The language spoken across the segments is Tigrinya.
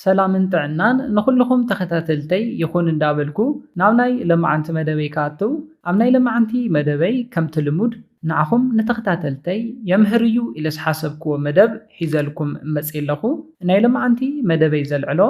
ሰላምን ጥዕናን ንኹልኹም ተኸታተልተይ ይኹን እንዳበልኩ ናብ ናይ ለማዓንቲ መደበይ ክኣቱ ኣብ ናይ ለማዓንቲ መደበይ ከምቲ ልሙድ ንዓኹም ንተኸታተልተይ የምህር እዩ ኢለ ዝሓሰብክዎ መደብ ሒዘልኩም መጽየ ኣለኹ ናይ ለማዓንቲ መደበይ ዘልዕሎ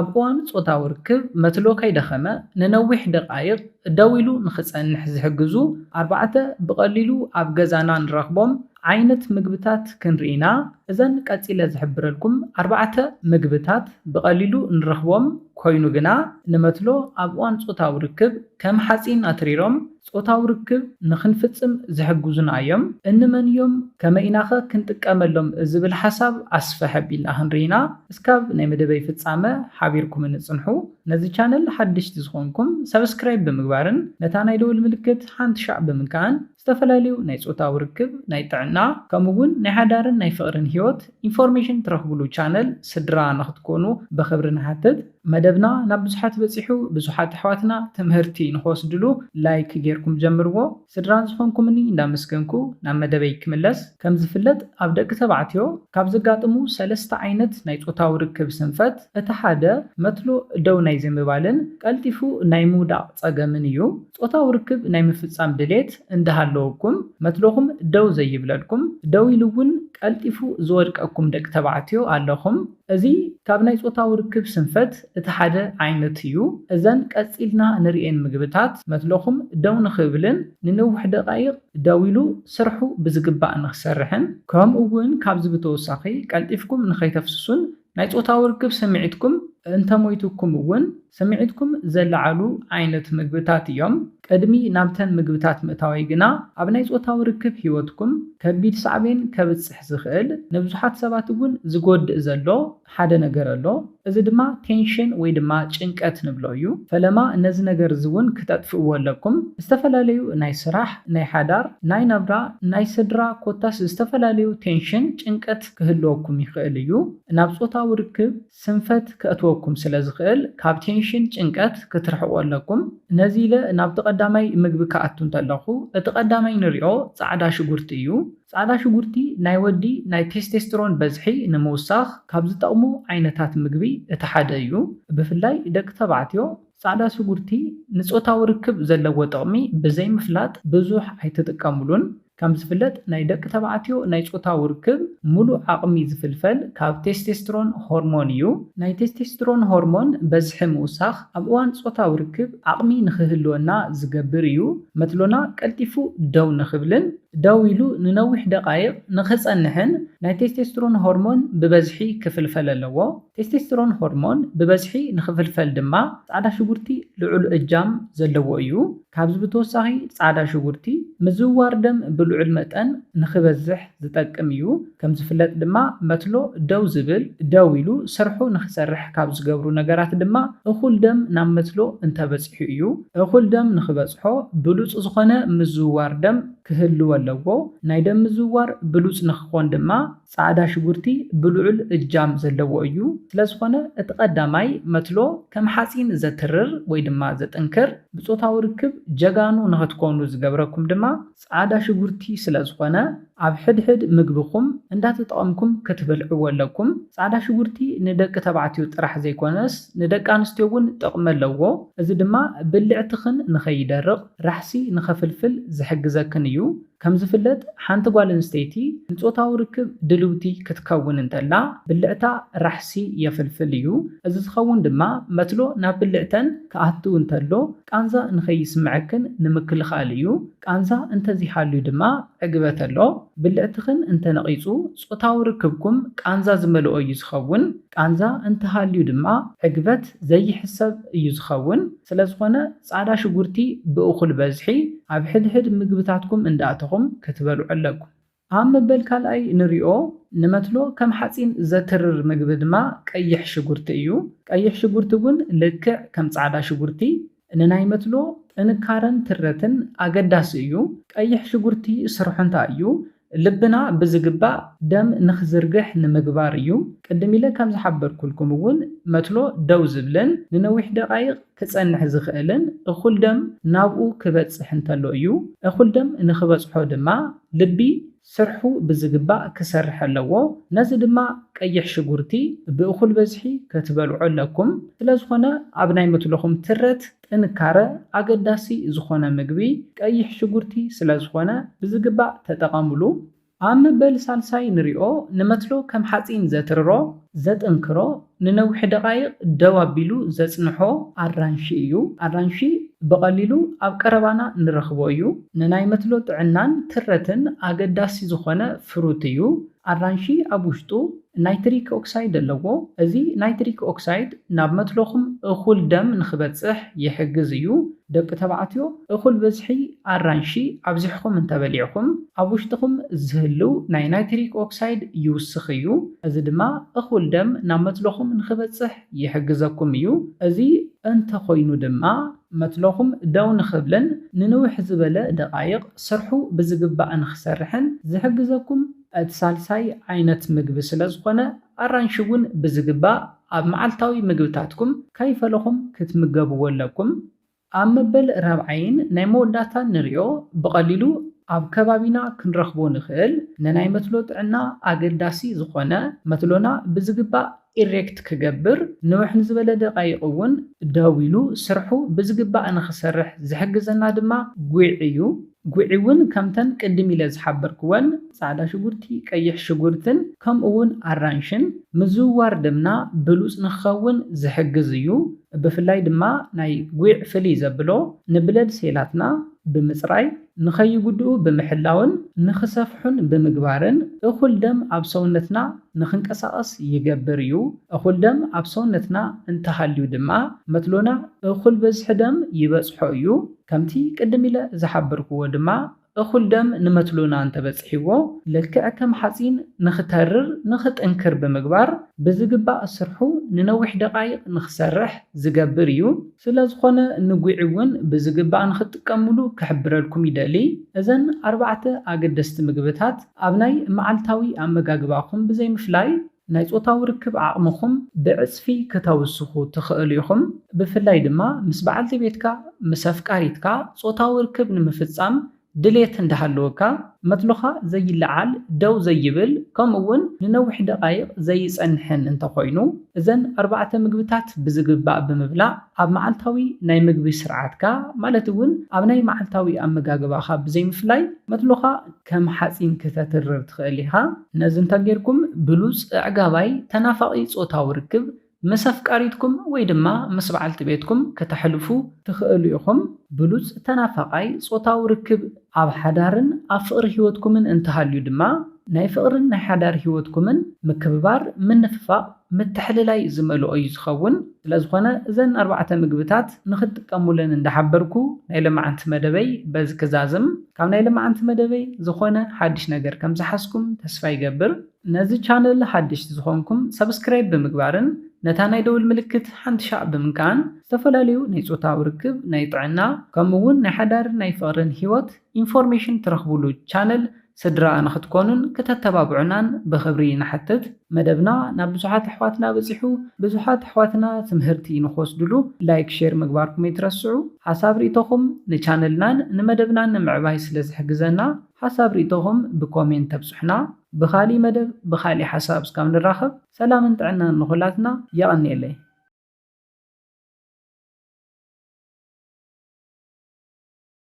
ኣብ እዋን ጾታዊ ርክብ መትሎ ከይደኸመ ንነዊሕ ደቓይቕ ደው ኢሉ ንኽጸንሕ ዝሕግዙ ኣርባዕተ ብቐሊሉ ኣብ ገዛና ንረኽቦም ዓይነት ምግብታት ክንርኢ ኢና። እዘን ቀጺለ ዝሕብረልኩም ኣርባዕተ ምግብታት ብቐሊሉ ንረኽቦም ኮይኑ ግና ንመትሎ ኣብ እዋን ጾታዊ ርክብ ከም ሓጺን ኣትሪሮም ጾታዊ ርክብ ንኽንፍጽም ዝሕግዙና እዮም። እንመን እዮም ከመይ ኢናኸ ክንጥቀመሎም ዝብል ሓሳብ ኣስፍሕ ኣቢልና ክንርኢ ኢና። እስካብ ናይ መደበይ ፍጻመ ሓቢርኩምኒ ጽንሑ። ነዚ ቻነል ሓደሽቲ ዝኾንኩም ሳብስክራይብ ብምግባርን ነታ ናይ ደወል ምልክት ሓንቲ ሻዕ ብምንካእን። ዝተፈላለዩ ናይ ፆታዊ ርክብ፣ ናይ ጥዕና ከምኡ እውን ናይ ሓዳርን ናይ ፍቕርን ህይወት ኢንፎርሜሽን ትረኽብሉ ቻነል ስድራ ንኽትኮኑ ብኽብሪ ንሓትት። መደብና ናብ ብዙሓት በፂሑ ብዙሓት ኣሕዋትና ትምህርቲ ንኽወስድሉ ላይክ ገይርኩም ጀምርዎ። ስድራ ዝኾንኩምኒ እንዳመስገንኩ ናብ መደበይ ክምለስ። ከምዝፍለጥ ኣብ ደቂ ተባዕትዮ ካብ ዘጋጥሙ ሰለስተ ዓይነት ናይ ፆታዊ ርክብ ስንፈት እቲ ሓደ መትሎ ደው ናይ ዘይምባልን ቀልጢፉ ናይ ምውዳቕ ፀገምን እዩ። ጾታዊ ርክብ ናይ ምፍጻም ድሌት እንዳሃለወኩም መትሎኹም ደው ዘይብለልኩም፣ ደው ኢሉ እውን ቀልጢፉ ዝወድቀኩም ደቂ ተባዕትዮ ኣለኹም። እዚ ካብ ናይ ጾታዊ ርክብ ስንፈት እቲ ሓደ ዓይነት እዩ። እዘን ቀጺልና ንርእየን ምግብታት መትሎኹም ደው ንኽብልን ንነዊሕ ደቓይቕ ደው ኢሉ ስርሑ ብዝግባእ ንኽሰርሕን ከምኡ እውን ካብዚ ብተወሳኺ ቀልጢፍኩም ንኸይተፍስሱን ናይ ጾታዊ ርክብ ስምዒትኩም እንተሞይቱኩም እውን ስምዒትኩም ዘለዓዕሉ ዓይነት ምግብታት እዮም። ቅድሚ ናብተን ምግብታት ምእታወይ ግና ኣብ ናይ ጾታዊ ርክብ ህይወትኩም ከቢድ ሳዕቤን ከብጽሕ ዝኽእል ንብዙሓት ሰባት እውን ዝጎድእ ዘሎ ሓደ ነገር ኣሎ። እዚ ድማ ቴንሽን ወይ ድማ ጭንቀት ንብሎ እዩ። ፈለማ ነዚ ነገር እዚ እውን ክተጥፍእዎ ኣለኩም። ዝተፈላለዩ ናይ ስራሕ፣ ናይ ሓዳር፣ ናይ ናብራ፣ ናይ ስድራ ኮታስ ዝተፈላለዩ ቴንሽን፣ ጭንቀት፣ ክህልወኩም ይኽእል እዩ። ናብ ጾታዊ ርክብ ስንፈት ከእትወኩም ስለ ዝኽእል ካብ ቴንሽን፣ ጭንቀት፣ ክትርሕቁ ኣለኩም። ነዚ ኢለ ናብቲ ቀዳማይ ምግቢ ክኣቱ እንተለኹ እቲ ቀዳማይ ንሪኦ ጻዕዳ ሽጉርቲ እዩ። ጻዕዳ ሽጉርቲ ናይ ወዲ ናይ ቴስቴስትሮን በዝሒ ንምውሳኽ ካብ ዝጠቕሙ ዓይነታት ምግቢ እቲ ሓደ እዩ። ብፍላይ ደቂ ተባዕትዮ ጻዕዳ ሽጉርቲ ንጾታዊ ርክብ ዘለዎ ጥቕሚ ብዘይምፍላጥ ብዙሕ ኣይትጥቀምሉን። ከም ዝፍለጥ ናይ ደቂ ተባዕትዮ ናይ ጾታዊ ርክብ ምሉእ ዓቕሚ ዝፍልፈል ካብ ቴስቴስትሮን ሆርሞን እዩ። ናይ ቴስቴስትሮን ሆርሞን በዝሒ ምውሳኽ ኣብ እዋን ጾታዊ ርክብ ዓቕሚ ንኽህልወና ዝገብር እዩ፣ መትሎና ቀልጢፉ ደው ንኽብልን ደው ኢሉ ንነዊሕ ደቓይቕ ንኽጸንሕን ናይ ቴስቴስትሮን ሆርሞን ብበዝሒ ክፍልፈል ኣለዎ። ቴስቴስትሮን ሆርሞን ብበዝሒ ንኽፍልፈል ድማ ጻዕዳ ሽጉርቲ ልዑል እጃም ዘለዎ እዩ። ካብዚ ብተወሳኺ ፃዕዳ ሽጉርቲ ምዝውዋር ደም ብልዑል መጠን ንክበዝሕ ዝጠቅም እዩ። ከምዝፍለጥ ድማ መትሎ ደው ዝብል፣ ደው ኢሉ ስርሑ ንክሰርሕ ካብ ዝገብሩ ነገራት ድማ እኹል ደም ናብ መትሎ እንተበፂሑ እዩ። እኹል ደም ንክበፅሖ ብሉፅ ዝኾነ ምዝውዋር ደም ክህልዎ ኣለዎ። ናይ ደም ምዝውዋር ብሉፅ ንክኾን ድማ ጻዕዳ ሽጉርቲ ብልዑል እጃም ዘለዎ እዩ፣ ስለዝኾነ እቲ ቀዳማይ መትሎ ከም ሓጺን ዘትርር ወይ ድማ ዘጥንክር፣ ብጾታዊ ርክብ ጀጋኑ ንኸትኮኑ ዝገብረኩም ድማ ጻዕዳ ሽጉርቲ ስለዝኾነ ኣብ ሕድሕድ ምግብኹም እንዳተጠቐምኩም ክትበልዕዎ ኣለኩም። ጻዕዳ ሽጉርቲ ንደቂ ተባዕትዮ ጥራሕ ዘይኮነስ ንደቂ ኣንስትዮ እውን ጥቕሚ ኣለዎ፣ እዚ ድማ ብልዕትኽን ንኸይደርቕ ራሕሲ ንኸፍልፍል ዝሕግዘክን እዩ። ከም ዝፍለጥ ሓንቲ ጓል ኣንስተይቲ ንጾታዊ ርክብ ድልውቲ ክትከውን እንተላ ብልዕታ ራሕሲ የፍልፍል እዩ። እዚ ዝኸውን ድማ መትሎ ናብ ብልዕተን ክኣቱ እንተሎ ቃንዛ ንኸይስምዐክን ንምክልኻል እዩ። ቃንዛ እንተዘይሃልዩ ድማ ዕግበት ኣሎ። ብልዕትኽን እንተነቒጹ ጾታዊ ርክብኩም ቃንዛ ዝመልኦ እዩ ዝኸውን። ቃንዛ እንተሃልዩ ድማ ዕግበት ዘይሕሰብ እዩ ዝኸውን። ስለዝኾነ ጻዕዳ ሽጉርቲ ብእኹል በዝሒ ኣብ ሕድሕድ ምግብታትኩም እንዳእተኹም ክትበልዑ ኣለኩም። ኣብ መበል ካልኣይ ንሪኦ ንመትሎ ከም ሓጺን ዘትርር ምግቢ ድማ ቀይሕ ሽጉርቲ እዩ። ቀይሕ ሽጉርቲ እውን ልክዕ ከም ጻዕዳ ሽጉርቲ ንናይ መትሎ ጥንካረን ትረትን ኣገዳሲ እዩ። ቀይሕ ሽጉርቲ ስርሑ እንታይ እዩ? ልብና ብዝግባእ ደም ንኽዝርግሕ ንምግባር እዩ። ቅድም ኢለ ከም ዝሓበርኩልኩም እውን መትሎ ደው ዝብልን ንነዊሕ ደቓይቕ ክጸንሕ ዝኽእልን እኹል ደም ናብኡ ክበጽሕ እንተሎ እዩ። እኹል ደም ንኽበጽሖ ድማ ልቢ ስርሑ ብዝግባእ ክሰርሕ ኣለዎ። ነዚ ድማ ቀይሕ ሽጉርቲ ብእኹል በዝሒ ከትበልዑ ኣለኩም። ስለዝኾነ ኣብ ናይ መትሎኹም ትረት ጥንካረ፣ ኣገዳሲ ዝኾነ ምግቢ ቀይሕ ሽጉርቲ ስለዝኾነ ብዝግባእ ተጠቐምሉ። ኣብ መበል ሳልሳይ ንሪኦ፣ ንመትሎ ከም ሓፂን ዘትርሮ፣ ዘጥንክሮ፣ ንነዊሕ ደቓይቕ ደው ኣቢሉ ዘፅንሖ ኣራንሺ እዩ። ኣራንሺ ብቐሊሉ ኣብ ቀረባና ንረኽቦ እዩ። ንናይ መትሎ ጥዕናን ትረትን ኣገዳሲ ዝኾነ ፍሩት እዩ። ኣራንሺ ኣብ ውሽጡ ናይትሪክ ኦክሳይድ ኣለዎ፣ እዚ ናይትሪክ ኦክሳይድ ናብ መትሎኹም እኹል ደም ንኽበጽሕ ይሕግዝ እዩ። ደቂ ተባዕትዮ፣ እኹል ብዝሒ ኣራንሺ ኣብዚሕኹም እንተበሊዕኩም፣ ኣብ ውሽጥኹም ዝህልው ናይ ናይትሪክ ኦክሳይድ ይውስኽ እዩ፣ እዚ ድማ እኹል ደም ናብ መትሎኹም ንኽበጽሕ ይሕግዘኩም እዩ። እዚ እንተኾይኑ ድማ፣ መትሎኹም ደው ንኽብልን ንንውሕ ዝበለ ደቓይቕ ስርሑ ብዝግባእ ንኽሰርሕን ዝሕግዘኩም እቲ ሳልሳይ ዓይነት ምግቢ ስለዝኾነ፣ ኣራንሺ እውን ብዝግባእ ኣብ መዓልታዊ ምግብታትኩም ከይፈለኹም ክትምገብዎ ኣለኩም። ኣብ መበል ራብዓይን ናይ መወዳእታን ንሪኦ ብቐሊሉ ኣብ ከባቢና ክንረኽቦ ንኽእል ንናይ መትሎ ጥዕና ኣገዳሲ ዝኾነ መትሎና ብዝግባእ ኢሬክት ክገብር፣ ንውሕ ንዝበለ ደቓይቕ እውን ደው ኢሉ ስርሑ ብዝግባእ ንኽሰርሕ ዝሕግዘና ድማ ጒዕ እዩ። ጒዕ እውን ከምተን ቅድም ኢለ ዝሓበርክወን ጻዕዳ ሽጉርቲ፣ ቀይሕ ሽጉርትን ከምኡ እውን ኣራንሽን ምዝውዋር ደምና ብሉጽ ንኽኸውን ዝሕግዝ እዩ። ብፍላይ ድማ ናይ ጒዕ ፍልይ ዘብሎ ንብለድ ሴላትና ብምጽራይ ንኸይጉድኡ ብምሕላውን ንኽሰፍሑን ብምግባርን እኹል ደም ኣብ ሰውነትና ንኽንቀሳቐስ ይገብር እዩ። እኹል ደም ኣብ ሰውነትና እንተሃልዩ ድማ መትሎና እኹል በዝሒ ደም ይበጽሖ እዩ። ከምቲ ቅድም ኢለ ዝሓበርክዎ ድማ እኹል ደም ንመትሎና እንተበጺሕዎ ልክዕ ከም ሓጺን ንኽተርር ንኽጥንክር ብምግባር ብዝግባእ ስርሑ ንነዊሕ ደቓይቕ ንኽሰርሕ ዝገብር እዩ። ስለ ዝኾነ ንጒዒ እውን ብዝግባእ ንኽትጥቀምሉ ክሕብረልኩም ይደሊ። እዘን ኣርባዕተ ኣገደስቲ ምግብታት ኣብ ናይ መዓልታዊ ኣመጋግባኹም ብዘይምፍላይ ናይ ጾታዊ ርክብ ዓቕምኹም ብዕጽፊ ክተውስኹ ትኽእሉ ኢኹም። ብፍላይ ድማ ምስ በዓልቲ ቤትካ፣ ምስ ኣፍቃሪትካ፣ ጾታዊ ርክብ ንምፍጻም ድሌት እንዳሃለወካ መትሎኻ ዘይለዓል፣ ደው ዘይብል፣ ከምኡ'ውን ንነዊሕ ደቓይቕ ዘይጸንሕን እንተኾይኑ፣ እዘን ኣርባዕተ ምግብታት ብዝግባእ ብምብላዕ ኣብ መዓልታዊ ናይ ምግቢ ስርዓትካ፣ ማለት'ውን ኣብ ናይ መዓልታዊ ኣመጋግባኻ ብዘይምፍላይ፣ መትሎኻ ከም ሓጺን ክተትርር ትኽእል ኢኻ። ነዚ እንተጌርኩም ብሉጽ፣ ኣዕጋባይ፣ ተናፋቒ ጾታዊ ርክብ ምስ ኣፍቃሪትኩም ወይ ድማ ምስ በዓልቲ ቤትኩም ከተሕልፉ ትኽእሉ ኢኹም። ብሉጽ ተናፋቓይ ጾታዊ ርክብ። ኣብ ሓዳርን ኣብ ፍቕሪ ህይወትኩምን እንተሃልዩ ድማ፣ ናይ ፍቕርን ናይ ሓዳር ህይወትኩምን ምክብባር፣ ምንፍፋቕ፣ ምትሕልላይ ዝመልኦ እዩ ዝኸውን። ስለዝኾነ እዘን ኣርባዕተ ምግብታት ንኽትጥቀሙለን እንዳሓበርኩ ናይ ሎማዓንቲ መደበይ በዚ ክዛዝም። ካብ ናይ ሎማዓንቲ መደበይ ዝኾነ ሓድሽ ነገር ከምዝሓዝኩም ተስፋ ይገብር። ነዚ ቻነል ሓደሽቲ ዝኾንኩም ሳብስክራይብ ብምግባርን ነታ ናይ ደውል ምልክት ሓንቲ ሻዕ ብምንካእን ዝተፈላለዩ ናይ ፆታዊ ርክብ፣ ናይ ጥዕና ከምኡ እውን ናይ ሓዳርን ናይ ፍቕርን ህይወት ኢንፎርሜሽን ትረኽቡሉ ቻነል ስድራ ንኽትኮኑን ክተተባብዑናን ብኽብሪ ንሓትት። መደብና ናብ ብዙሓት ኣሕዋትና በፂሑ ብዙሓት ኣሕዋትና ትምህርቲ ንኽወስድሉ ላይክ ሼር ምግባርኩም ኣይትረስዑ። ሓሳብ ሪኢቶኹም ንቻነልናን ንመደብናን ንምዕባይ ስለዝሕግዘና ሓሳብ ሪኢቶኹም ብኮሜንት ተብፁሑና። ብኻሊእ መደብ ብኻሊእ ሓሳብ እስካብ ንራኸብ ሰላምን ጥዕናን ንኹላትና የቐንየለይ።